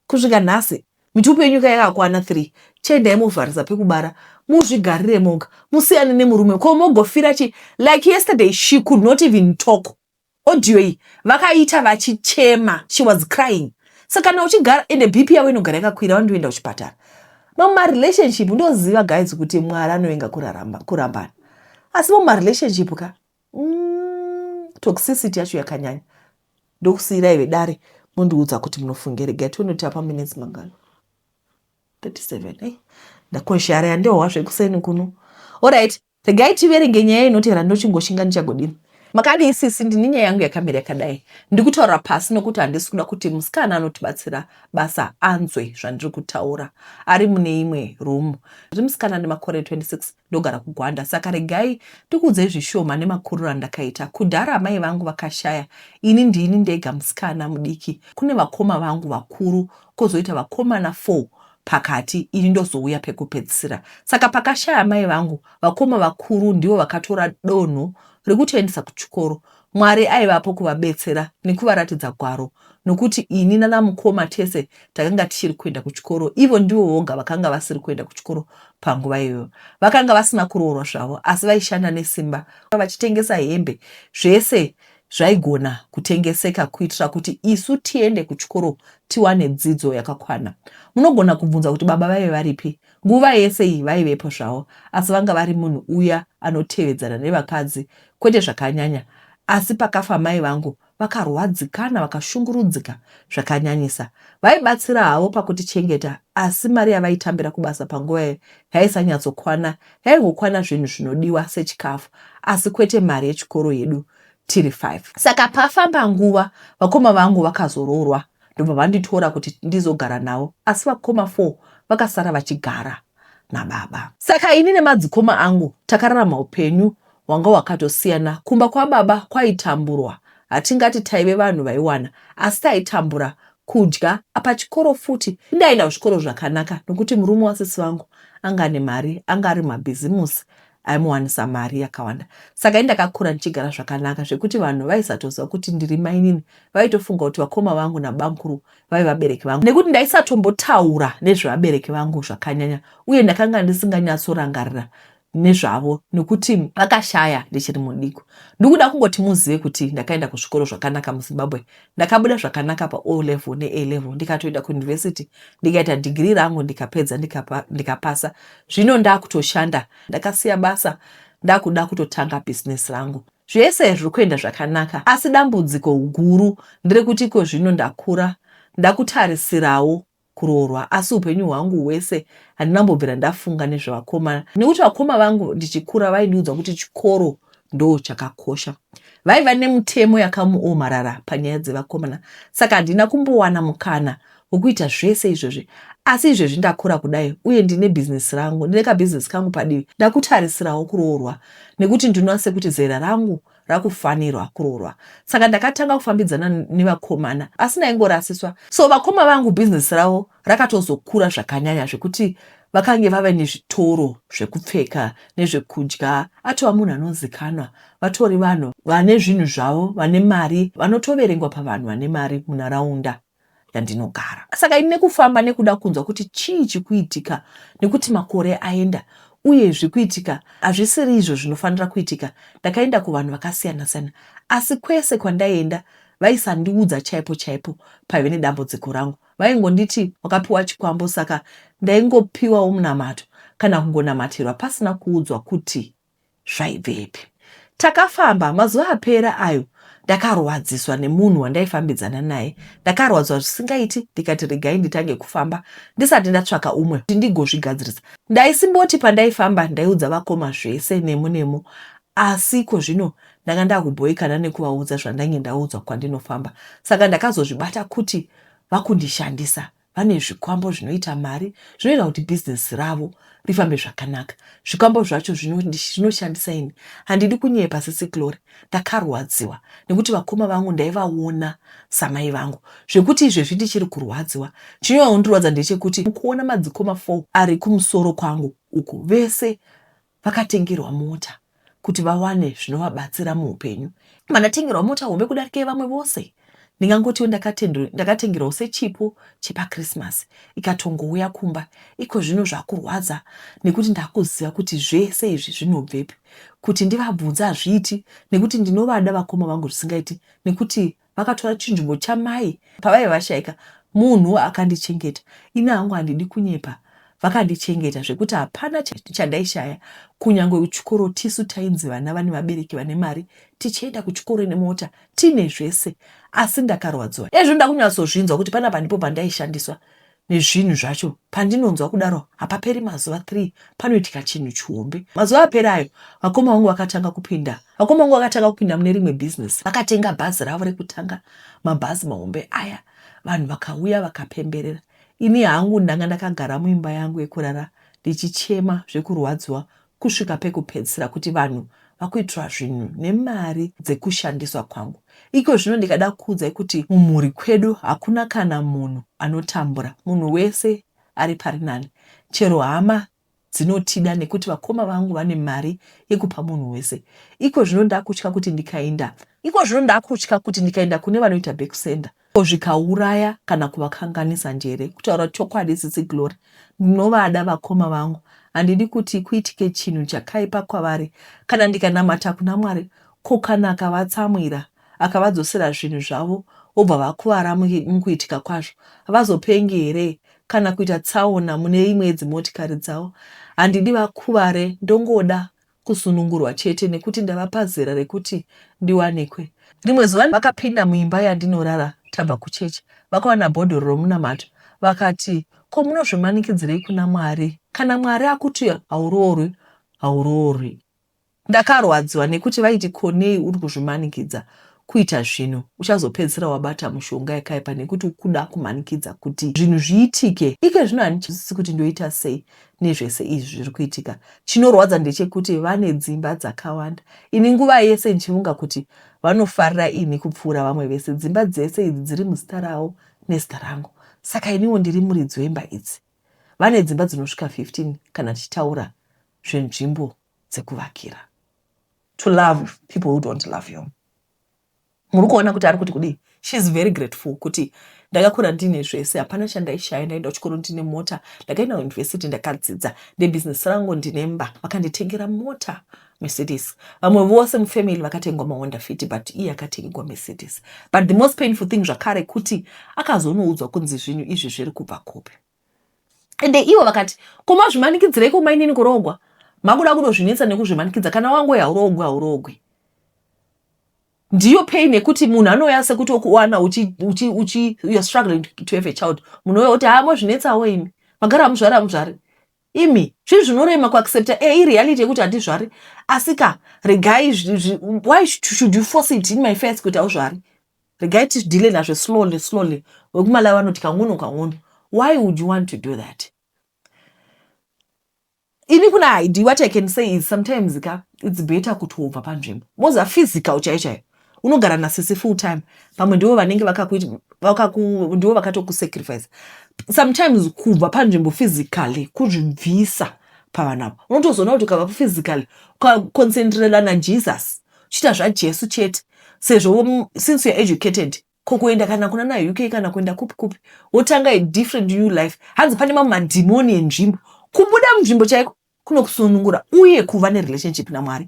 Kusvika nhasi mitupo yenyu ka yakakwana three chiendai movharisa pekubara muzvigarire moga musiyane nemurume ko mogofira chi like yesterday she could not even talk audio iyi vakaita vachichema she was crying saka kana uchigara ende bp yavo inogara yakakwira wandoenda kuchipatara mamwe marelationship ndoziva guys kuti mwari anovenga kuramba kurambana asi mamwe marelationship ka mm, toxicity yacho yakanyanya ndokusiira ive dare mondiudza kuti munofunge rega tione kuti apa minutes mangano 37 ei ndakoshara yandihowa zvekuseni kuno orit regai tiverenge nyaya inotevera ndochingoshinga ndichagodini makadi isisi ndine nyaya yangu yakamira yakadai ndikutaura pasi nokuti handisi kuda kuti musikana anotibatsira basa anzwe zvandiri kutaura ari mune imwe rumu ndiri musikana nemakore 26 Ndogara kuGwanda saka regai ndikuudzei zvishoma nemakuriro andakaita. Kudhara amai vangu vakashaya, ini ndini ndega musikana mudiki kune vakoma vangu vakuru kozoita vakomana four pakati ini ndozouya pekupedzisira. Saka pakashaya amai vangu, vakoma vakuru ndivo vakatora donho rekutoendesa kuchikoro Mwari aivapo kuvabetsera nekuvaratidza gwaro nokuti ini nanamukoma tese takanga tichiri kuenda kuchikoro. Ivo ndivo voga vakanga vasiri kuenda kuchikoro panguva iyoyo. Vakanga vasina kuroorwa zvavo asi vaishanda nesimba vachitengesa hembe zvese zvaigona kutengeseka kuitira kuti isu tiende kuchikoro tiwane dzidzo yakakwana. Munogona kubvunza kuti baba vaive varipi Nguva yese iyi vaivepo zvavo asi vanga vari munhu uya anotevedzana nevakadzi kwete zvakanyanya asi pakafa mai vangu vakarwadzikana vakashungurudzika zvakanyanyisa. Vaibatsira havo pakutichengeta asi mari yavaitambira kubasa panguva iyoyo yaisanyatsokwana yaingokwana zvinhu zvinodiwa sechikafu asi kwete mari yechikoro yedu tiri five. Saka pafamba nguva vakoma vangu vakazoroorwa ndobva vanditora kuti ndizogara navo asi vakoma four vakasara vachigara nababa. Saka ini nemadzikoma angu takararama upenyu hwanga hwakatosiyana. Kumba kwababa kwaitamburwa, hatingati taive vanhu vaiwana asi taitambura kudya. Pachikoro futi ndaienda kuzvikoro zvakanaka nokuti murume wasisi vangu anga ane mari, anga ari mumabhizimusi aimuwanisa mari yakawanda saka indakakura ndichigara zvakanaka zvekuti vanhu vaisatoziva kuti ndiri mainini vaitofunga kuti vakoma vangu nabamkuru vave vabereki vangu nekuti ndaisatombotaura nezvevabereki vangu zvakanyanya uye ndakanga ndisinganyatsorangarira nezvavo nekuti vakashaya ndichiri mudiko ndikuda kungoti muzive kuti ndakaenda kuzvikoro zvakanaka muzimbabwe Ndakabuda zvakanaka pa O level ne A level ndikatoenda ku university ndikaita degree rangu ndikapedza ndikapa, ndikapasa. Zvino ndakutoshanda ndakasiya basa ndakuda kutotanga business rangu. Zvese zviri kuenda zvakanaka asi dambudziko guru nderekuti iko zvino ndakura ndakutarisirawo kuroorwa asi upenyu hwangu hwese handina kumbobvira ndafunga nezvevakoma nekuti vakoma vangu ndichikura vaindiudza kuti chikoro ndoo chakakosha. Vaiva nemutemo yakamuomarara panyaya dzevakomana saka handina kumbowana mukana wekuita zvese izvozvi asi izvezvi ndakura kudai uye ndine bhizinesi rangu ndine kabhizinesi kangu padivi ndakutarisirawo kuroorwa nekuti ndinoase kuti zera rangu rakufanirwa kuroorwa saka ndakatanga kufambidzana nevakomana asi ndaingorasiswa so vakoma vangu bhizinesi ravo rakatozokura zvakanyanya zvekuti vakange vave nezvitoro zvekupfeka nezvekudya atova munhu anozikanwa vatori vanhu vane zvinhu zvavo vane mari vanotoverengwa pavanhu vane mari munharaunda yandinogara. Saka ini nekufamba nekuda kunzwa kuti chii chikuitika nekuti makore aenda uye zvikuitika hazvisiri izvo zvinofanira kuitika, ndakaenda kuvanhu vakasiyana siyana asi kwese kwandaienda vaisandiudza chaipo chaipo paive nedambudziko rangu. Vaingonditi wakapiwa chikwambo saka ndaingopiwawo munamato kana kungonamatirwa pasina kuudzwa kuti zvaibvepi. Takafamba mazuva apera ayo ndakarwadziswa nemunhu wandaifambidzana naye. Ndakarwadzwa zvisingaiti ndikati regai nditange kufamba ndisati ndatsvaka umwe kuti ndigozvigadzirisa. Ndaisimboti pandaifamba ndaiudza vakoma zvese nemo nemo asi iko zvino ndanga ndakubhoikana nekuvaudza zvandange ndaudzwa kwandinofamba saka ndakazozvibata kuti vakundishandisa. vane zvikwambo zvinoita mari zvinoita kuti bhizinesi ravo rifambe zvakanaka zvikwambo zvacho zvinoshandisa ini handidi kunyepa sisi glory ndakarwadziwa nekuti vakoma vangu ndaivaona samai vangu zvekuti izvezvi ndichiri kurwadziwa chinoondirwadza ndechekuti kuona madzikoma fo ari kumusoro kwangu uku vese vakatengerwa mota kuti vawane zvinovabatsira muupenyu. Vandatengerwa mota hombe kudarika yevamwe vose, ndingangotiwo ndakatengerwawo sechipo chepaKrisimasi ikatongouya kumba. Iko zvino zvakurwadza nekuti ndakuziva kuti zvese izvi zvinobvepi. Kuti ndivabvunze hazviiti nekuti ndinovada vakoma vangu zvisingaiti nekuti vakatora chinzvimbo chamai pavaive vashaika munhu akandichengeta ini hangu handidi kunyepa vakandichengeta zvekuti hapana chandaishaya kunyange kuchikoro tisu tainzi vana vane vabereki vane mari tichienda kuchikoro nemota tine zvese asi ndakarwadziwa ezvo ndakunyatsozvinzwa kuti panapa ndipo pandaishandiswa nezvinhu zvacho pandinonzwa kudaro hapaperi mazuva three panoitika chinhu chihombe mazuva aperi ayo vakoma vangu vakatanga kupinda vakoma vangu vakatanga kupinda mune rimwe bhizinesi vakatenga bhazi ravo rekutanga mabhazi mahombe aya vanhu vakauya vakapemberera ini hangu ndanga ndakagara muimba yangu yekurara ndichichema zvekurwadziwa kusvika pekupedzisira kuti vanhu vakuitirwa zvinhu nemari dzekushandiswa kwangu. Iko zvino ndikada kukuudzai kuti mumhuri kwedu hakuna kana munhu anotambura, munhu wese ari pari nani. Chero hama dzinotida nekuti vakoma vangu vane mari yekupa munhu wese. Iko zvino ndakutya kuti ndikainda. Iko zvino ndakutya kuti ndikainda kune vanoita bekusenda Ko zvikauraya kana kuvakanganisa njere. Kutaura chokwadi sisi Glory ndinovada vakoma vangu handidi kuti kuitike chinhu chakaipa kwavari kana ndikanamata kuna Mwari ko kana akavatsamwira akavadzosera zvinhu zvavo vobva vakuvara mukuitika kwazvo havazopengi here kana kuita tsaona mune imwe yedzimotikari dzavo handidi vakuvare ndongoda kusunungurwa chete nekuti ndava pazera rekuti ndiwanikwe. Rimwe zuva vakapinda muimba yandinorara tabva kuchechi vakawana bhodhoro romunamato vakati ko munozvimanikidzirei kuna Mwari kana Mwari akuti hauroorwi hauroorwi. Ndakarwadziwa nekuti vaiti ko nei uri kuzvimanikidza kuita zvino uchazopedzisira wabata mushonga yakaipa nekuti ukuda kumanikidza kuti zvinhu zviitike ike zvino handichizisi kuti ndoita sei nezvese izvi zviri kuitika chinorwadza ndechekuti vane dzimba dzakawanda ini nguva yese ndichifunga kuti vanofarira ini kupfuura vamwe vese dzimba dzese idzi dziri muzita ravo nezita rangu saka iniwo ndiri muridzi wemba idzi vane dzimba dzinosvika 15 kana tichitaura zvenzvimbo dzekuvakira to love people who don't love you muri kuona kuti ari kuti kudii she is very grateful kuti ndakakura ndine zvese hapana chandaishaya ndaenda kuchikoro ndine mota ndakaenda kuuniversity ndakadzidza ndebusiness rangu ndine mba vakanditengera mota mercedes vamwe vose mufamily vakatengwa mawonda fiti but iye akatengegwa mercedes but the most painful thing zvakare kuti akazonoudzwa kunzi zvinhu izvi zviri kubva kupi ende ivo vakati ko mazvimanikidzireiko mainini kurogwa makuda kudozvinetsa nekuzvimanikidza kana wangoe haurogwi haurogwi ndiyo pain yekuti munhu anouya sekuti okuwana youare struggling to have a child munhu uya kuti haa mozvinetsawo imi magara hamuzvari hamuzvari imi zvinhu zvinorema kuaccepta e ireality yekuti handizvari asika regai why should you force it in my face kuti hauzvari regai tidhile nazvo slowly slowly vekumalawi vanoti kang'ono kang'ono why would you want to do that ini kuna haidi what i can say is sometimes ka its better kuti wobva panzvimbo moza physical chaiyo chaiyo unogara nasisi full time pamwe ndivo vanenge ndivo vakatokusacrifice sometimes kubva panzvimbo physically kuzvibvisa pavanavo unotozoona kuti ukava physically ukaconcentrela najesus chiita zvajesu chete sezvo since you're educated ko kuenda kana kuna na uk kana kuenda kupi kupi wotanga a different new life hanzi pane mamwe madhimoni enzvimbo kubuda munzvimbo chaiko kunokusunungura uye kuva nerelationship namwari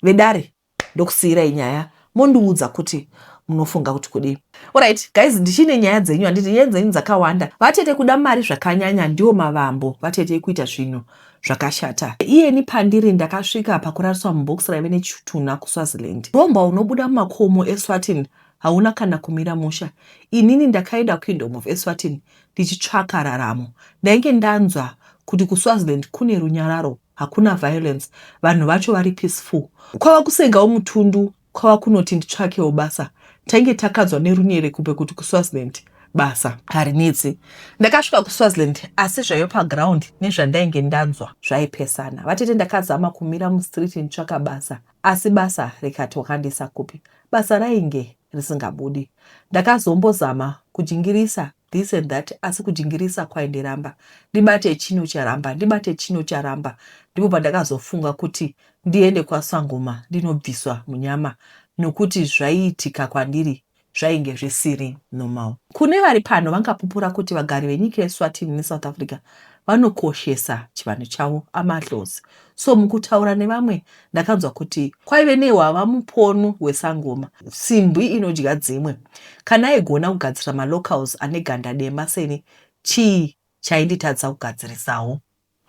vedare ndokusiyirai nyaya mondiudza kuti munofunga kuti kudii orit guys ndichine nyaya dzenyu handiti nyaya dzenyu dzakawanda vatete kuda mari zvakanyanya ndiwo mavambo vatete kuita zvinhu zvakashata iyeni pandiri ndakasvika pakurariswa mubox raive nechitunha kuswaziland romba unobuda mumakomo eswatin hauna kana kumira musha inini ndakaenda kingdom of eswatin ndichitsvaka raramo ndainge ndanzwa kuti kuswaziland kune runyararo hakuna violence vanhu vacho vari peaceful kwava kusengawo mutundu kwava kunoti nditsvakewo basa. Tainge takadzwa neRunyerekumbe kuti kuSwaziland basa harinetse. Ndakasvika kuSwaziland asi zvaiva paground nezvandainge ndanzwa zvaipesana. Vatete ndakazama kumira mustreet nditsvaka basa asi basa rikati wakandiisa kupi. Basa rainge risingabudi. Ndakazombozama kujingirisa this and that asi kujingirisa kwaindiramba ndibate chino charamba ndibate chino charamba ndipo pandakazofunga kuti ndiende kwasangoma ndinobviswa munyama nokuti zvaiitika kwandiri zvainge zvisiri normal kune vari pano vangapupura kuti vagari venyika yeswatini nesouth africa vanokoshesa chivanhu chavo amadlozi so mukutaura nevamwe ndakanzwa kuti kwaive nehwava muponu wesangoma simbwi inodya dzimwe kana aigona kugadzira malocals ane ganda dema seni chii chainditadzisa kugadzirisawo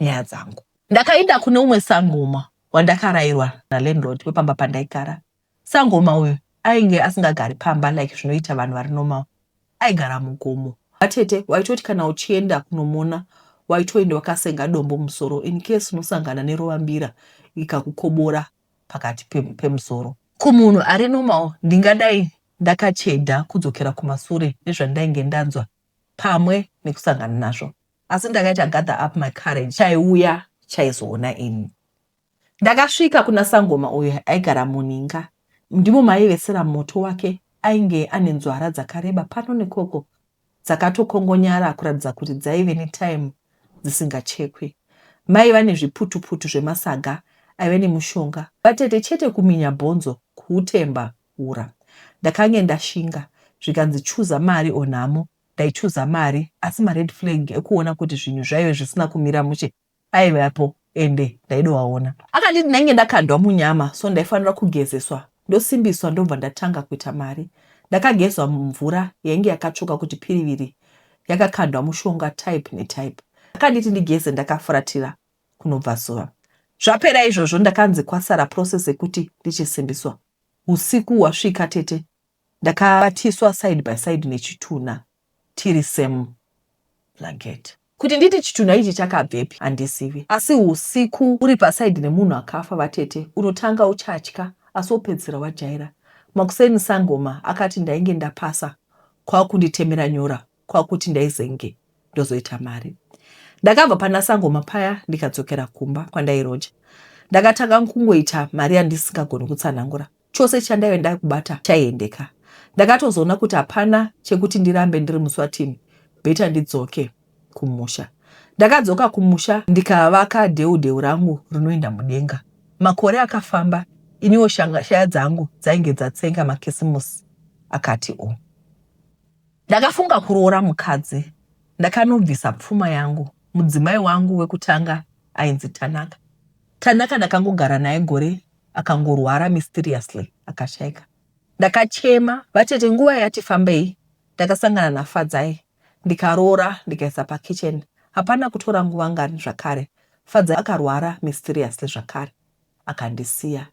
nyaya dzangu ndakainda kune umwe sangoma wandakarairwa nalandlord wepamba pandaigara Sangoma uyu ainge asingagari pamba like zvinoita vanhu vari normal aigara mugomo. Vatete waitoti kana uchienda kunomona waitoenda wakasenga dombo mumusoro in case unosangana nerovambira ikakukobora pakati pemusoro. Kumunhu ari normal ndingadai ndakacheda kudzokera kumasure nezvandainge ndanzwa pamwe nekusangana nazvo asi ndakaita gather up my courage chaiuya chaizoona ini. Ndakasvika kuna sangoma uyo aigara muninga ndimo maivesera moto wake ainge ane nzwara dzakareba pano nekoko dzakatokongonyara kuratidza kuti dzaive netime dzisingachekwi. Maiva nezviputuputu zvemasaga aive nemushonga vatete chete kuminya bhonzo kuutemba ura. Ndakange ndashinga zvikanzi chuza mari or nhamo ndaichuza mari asi mared flag ekuona kuti zvinhu zvaive zvisina kumira mushe aivapo ende ndaidovaona. Akanditi ndainge ndakandwa munyama so ndaifanira kugezeswa ndosimbiswa ndobva ndatanga kuita mari. Ndakagezwa mumvura yainge yakatsvuka kuti piriviri yakakandwa mushonga type netype. Akanditi ndigeze ndakafuratira kunobvazuva. Zvapera izvozvo ndakanzi kwasara process yekuti ndichisimbiswa. Husiku hwasvika tete ndakabatiswa side by side nechitunha. tiri same blanket. Kuti nditi chitunha ichi chakabvepi handizivi asi husiku uri paside nemunhu akafa vatete unotanga uchatya asi wopedzisira wajaira. Makuseni sangoma akati ndainge ndapasa kwakunditemera nyora kwakuti ndaizenge ndozoita mari. Ndakabva pana sangoma paya ndikadzokera kumba kwandairoja. Ndakatanga kungoita mari yandisingagoni kutsanangura chose chandaive ndakubata chaiendeka. Ndakatozoona kuti hapana chekuti ndirambe ndiri muSwatini better ndidzoke kumusha. Ndakadzoka kumusha ndikavaka dheu dheu rangu rinoenda mudenga. Makore akafamba iniwo shanga shaya dzangu dzainge dzatsenga makisimusi akati o. Ndakafunga kuroora mukadzi ndakanobvisa pfuma yangu. Mudzimai wangu wekutanga ainzi Tanaka. Tanaka ndakangogara naye gore akangorwara mysteriously akashaika. Ndakachema vatete nguva yati fambei ndakasangana naFadzai ndikaroora ndikaisa pakitchen hapana kutora nguva ngani zvakare Fadzai akarwara mysteriously zvakare akandisiya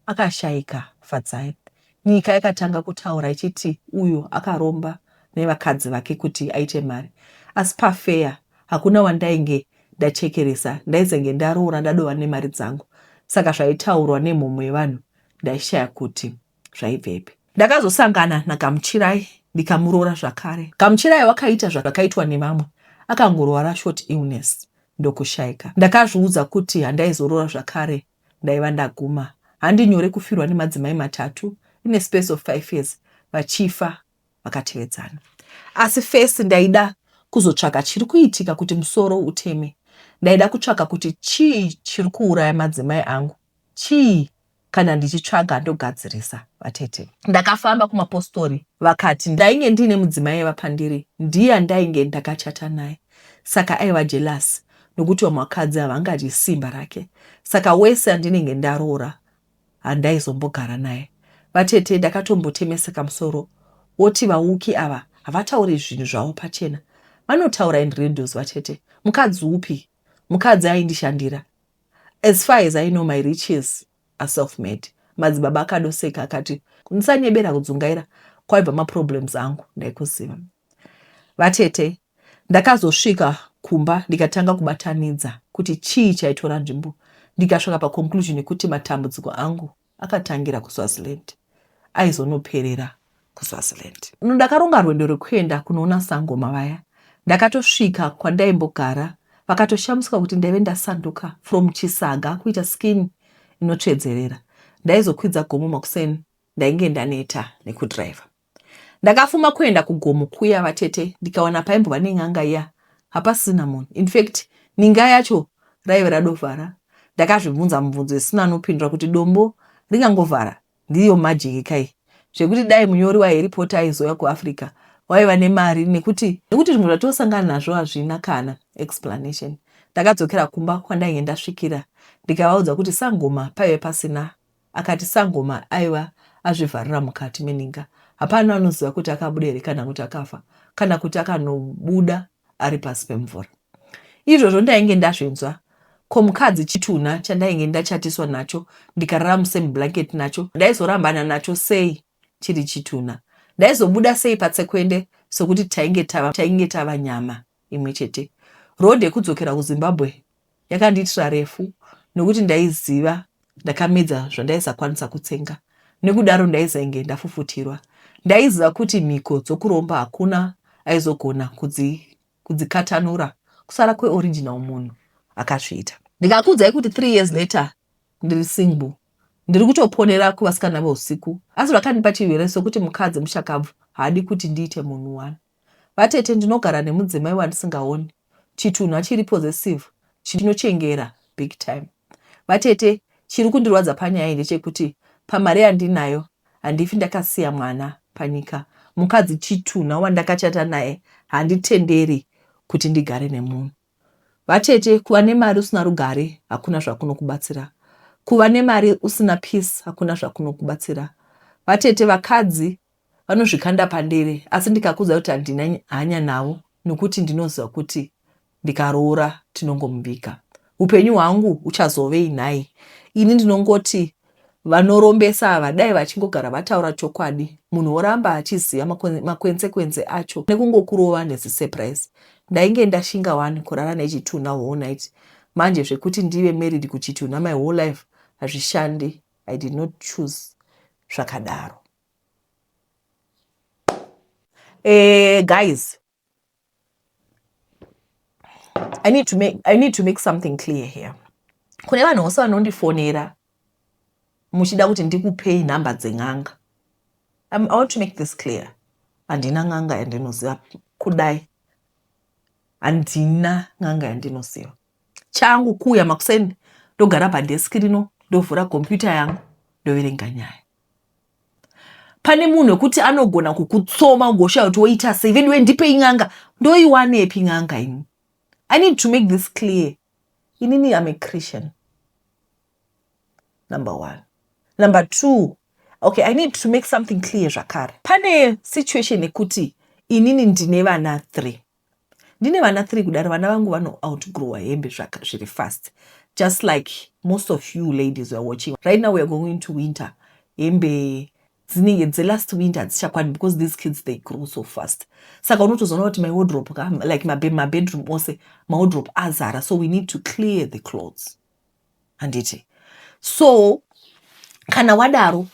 akashaika Fadzai Nyika yakatanga kutaura ichiti uyu akaromba nevakadzi vake kuti aite mari asi pafeya hakuna wandainge ndachekeresa ndaizenge ndaroora ndadova nemari dzangu saka zvaitaurwa nemhomho yevanhu ndaishaya kuti zvaibvepi. Ndakazosangana naGamuchirai ndikamuroora zvakare. Gamuchirai wakaita zvakaitwa nevamwe akangorwara short illness ndokushaika. Ndakazviudza kuti handaizoroora zvakare Ndaiva ndaguma. Handi nyore kufirwa nemadzimai matatu in a space of five years vachifa vakatevedzana. Asi first ndaida kuzotsvaka chiri kuitika kuti musoro uteme. Ndaida kutsvaka kuti chii chiri kuuraya madzimai angu. Chii? Kana ndichitsvaga ndogadzirisa vatete. Ndakafamba kumapostori vakati ndainge ndiine mudzimai aiva pandiri ndiye andainge ndakachata naye saka aiva jelasi nokuti vamwe vakadzi havangadyi simba rake saka wese andinenge ndaroora handaizombogara naye. Vatete ndakatombotemesa kamusoro woti vauki ava havatauri zvinhu zvavo pachena vanotaura in riddles vatete mukadzi upi mukadzi aindishandira as far as I know my riches a self made. Madzibaba akadoseka akati, Musanyebera kudzungaira kwaibva maproblems angu ndaikuziva. Vatete, ndakazosvika kumba ndikatanga kubatanidza kuti chii chaitora nzvimbo ndikasvika paconclusion yekuti matambudziko angu akatangira kuswaziland aizonoperera kuswaziland ndakaronga rwendo rwekuenda kunoona sangoma vaya ndakatosvika kwandaimbogara vakatoshamisika kuti ndaive ndasanduka from chisaga kuita skin inotsvedzerera ndaizokwidza gomo makuseni ndainge ndaneta nekudriver ndakafuma kuenda kugomo kuya vatete ndikawana paimbova nen'anga iya hapasina munhu infact ninga yacho raive radovhara ndakazvibvunza mubvunzo isina anopindura kuti dombo ringangovhara Ndiyo magic ka iyi zvekuti dai munyori wa Harry Potter aizouya ku Africa waiva nemari nekuti nekuti zvimwe zvatosangana nazvo hazvina kana explanation. Ndakadzokera kumba kwandainge ndasvikira ndikavaudza kuti sangoma paive pasina akati sangoma aiva azvivharira mukati meninga hapana anoziva kuti akabuda here kana kuti akafa kana kuti akanobuda ari pasi pemvura. Izvozvo ndainge ndazvinzwa ko mukadzi chitunha chandainge ndachatiswa nacho ndikarara musame blanket nacho ndaizorambana nacho sei chiri chitunha ndaizobuda sei patsekwende sokuti tainge tava tainge tava nyama imwe chete road yekudzokera kuzimbabwe yakandiitira refu nokuti ndaiziva ndakamedza zvandaisakwanisa kutsenga nekudaro ndaizainge ndafufutirwa. Ndaiziva kuti mhiko dzokuromba hakuna aizogona kudzi, kudzikatanura kusara kweoriginal munhu akazviita. Ndikakuudzai kuti three years later ndiri single ndiri kutoponera kuvasikana veusiku asi zvakandipa chirwere sokuti mukadzi mushakabvu haadi kuti ndiite munhu wani. Vatete ndinogara nemudzimai wandisingaoni chitunhu achiri possessive chinochengera big time. Vatete chiri kundirwadza panyaya iyi ndechekuti pamari yandinayo handifi ndakasiya mwana panyika. Mukadzi chitunha wandakachata naye handitenderi kuti ndigare nemunhu. Vatete kuva nemari usina rugare hakuna zvakunokubatsira. Kuva nemari usina peace hakuna zvakunokubatsira. Vatete vakadzi vanozvikanda padere asi ndikakuudza kuti handina hanya navo nokuti ndinoziva kuti ndikaroora tinongomuviga upenyu hwangu uchazovei nhai ini ndinongoti vanorombesa ava dai vachingogara vataura chokwadi munhu woramba achiziva makwensekwense acho nekungokurova nezisurprise ndainge ndashinga wani kurara nechitunha whole night manje zvekuti ndive married kuchitunha my whole life hazvishandi i did not choose zvakadaro Uh, guys, I need to make I need to make something clear here. Kune vanhu vose vanondifonera muchida kuti ndikupei nhamba dzen'anga. I want to make this clear. Handina n'anga yandinoziva kudai. Handina n'anga yandinoziva. Changu kuuya makuseni ndogara padesk rino ndovhura computer yangu ndoverenga nyaya. pane munhu wekuti anogona kukutsoma ugoshaya kuti woita sei veduwe ndipei n'anga ndoiwanepi n'anga ini i need to make this clear inini am a christian number one number two okay i need to make something clear zvakare pane situation yekuti inini ndine vana three ndine vana three kudaro vana vangu vano outgrower hembe zvaka zviri fast just like most of you ladies weare watching right now weare going to winter hembe dzinenge dzelast winter hadzichakwani because these kids they grow so fast saka unotozoona kuti mawodrop ka like mabedroom ose mawodrop azara so we need to clear the clothes handiti so kana wadaro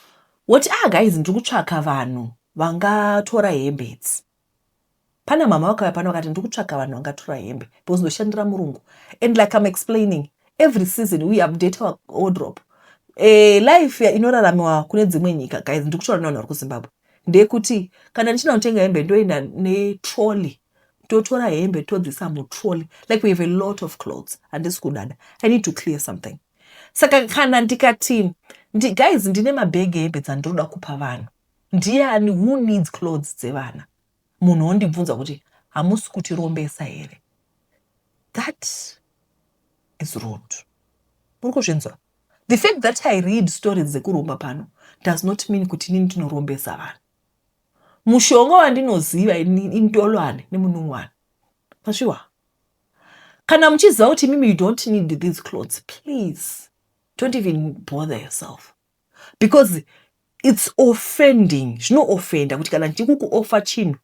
woti ah guys ndiri kutsvaka vanhu vangatora hembe idzi Pana mhamha vakauya pano vakati ndiri kutsvaga vanhu vangatura hembe because ndoshandira murungu and like I'm explaining every season we update our wardrobe. Eh, life ya- inoraramiwa kune dzimwe nyika guys ndiri kutaura nevanhu vari kuzimbabwe ndeyekuti kana ndichida kutenga hembe ndoenda netrolly totora hembe todzisa mutrolly like we have a lot of clothes handisi kudada i need to clear something saka kana ndikati ndi, guys ndine mabhegi ehembe dzandinoda kupa vanhu Ndiani who needs clothes dzevana? Munhu ondibvunza kuti hamusi kutirombesa here? That is rude. Muri kuzvinzwa? The fact that I read stories dzekuromba pano does not mean kuti inini ndinorombesa vanhu. Mushonga wandinoziva intolwane nemunungwana. Masviwa? Kana muchiziva kuti mimi you don't need these clothes, please don't even bother yourself. because its offending zvinoofenda kuti kana ndichiri kukuofa chinhu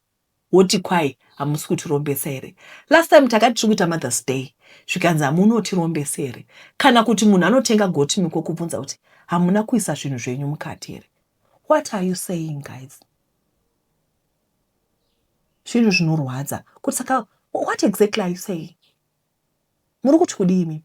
woti kwai hamusi kutirombesa here last time takati tiri kuita mothers day zvikanzi hamunotirombesa here kana kuti munhu anotenga goti miko kubvunza kuti hamuna kuisa zvinhu zvenyu mukati here what are you saying guys zvinhu zvinorwadza kuti saka what exactly are you saying muri kuti kudii mimi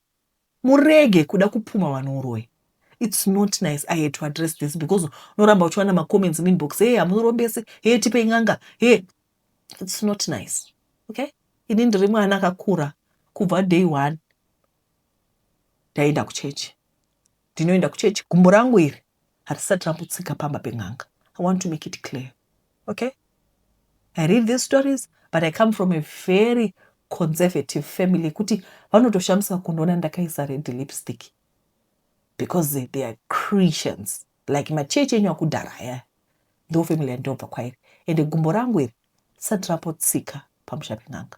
Murege kuda kupumha vanhu uroyi. It's not nice I had to address this because unoramba uchiwana macomments muinbox hee hamurombese hee tipei n'anga hee it's not nice okay ini ndiri mwana akakura kubva day one ndaienda kuchechi ndinoenda kuchechi gumbo rangu iri hatisati rambotsika pamba pen'anga i want to make it clear okay i read these stories but i come from a very conservative family yekuti vanotoshamisa kundiona ndakaisa red lipstick because they are christians like machechi enyu akudhara aya ndo family yandinobva kwairi ende gumbo rangu iri risati rapotsika pamusha pen'anga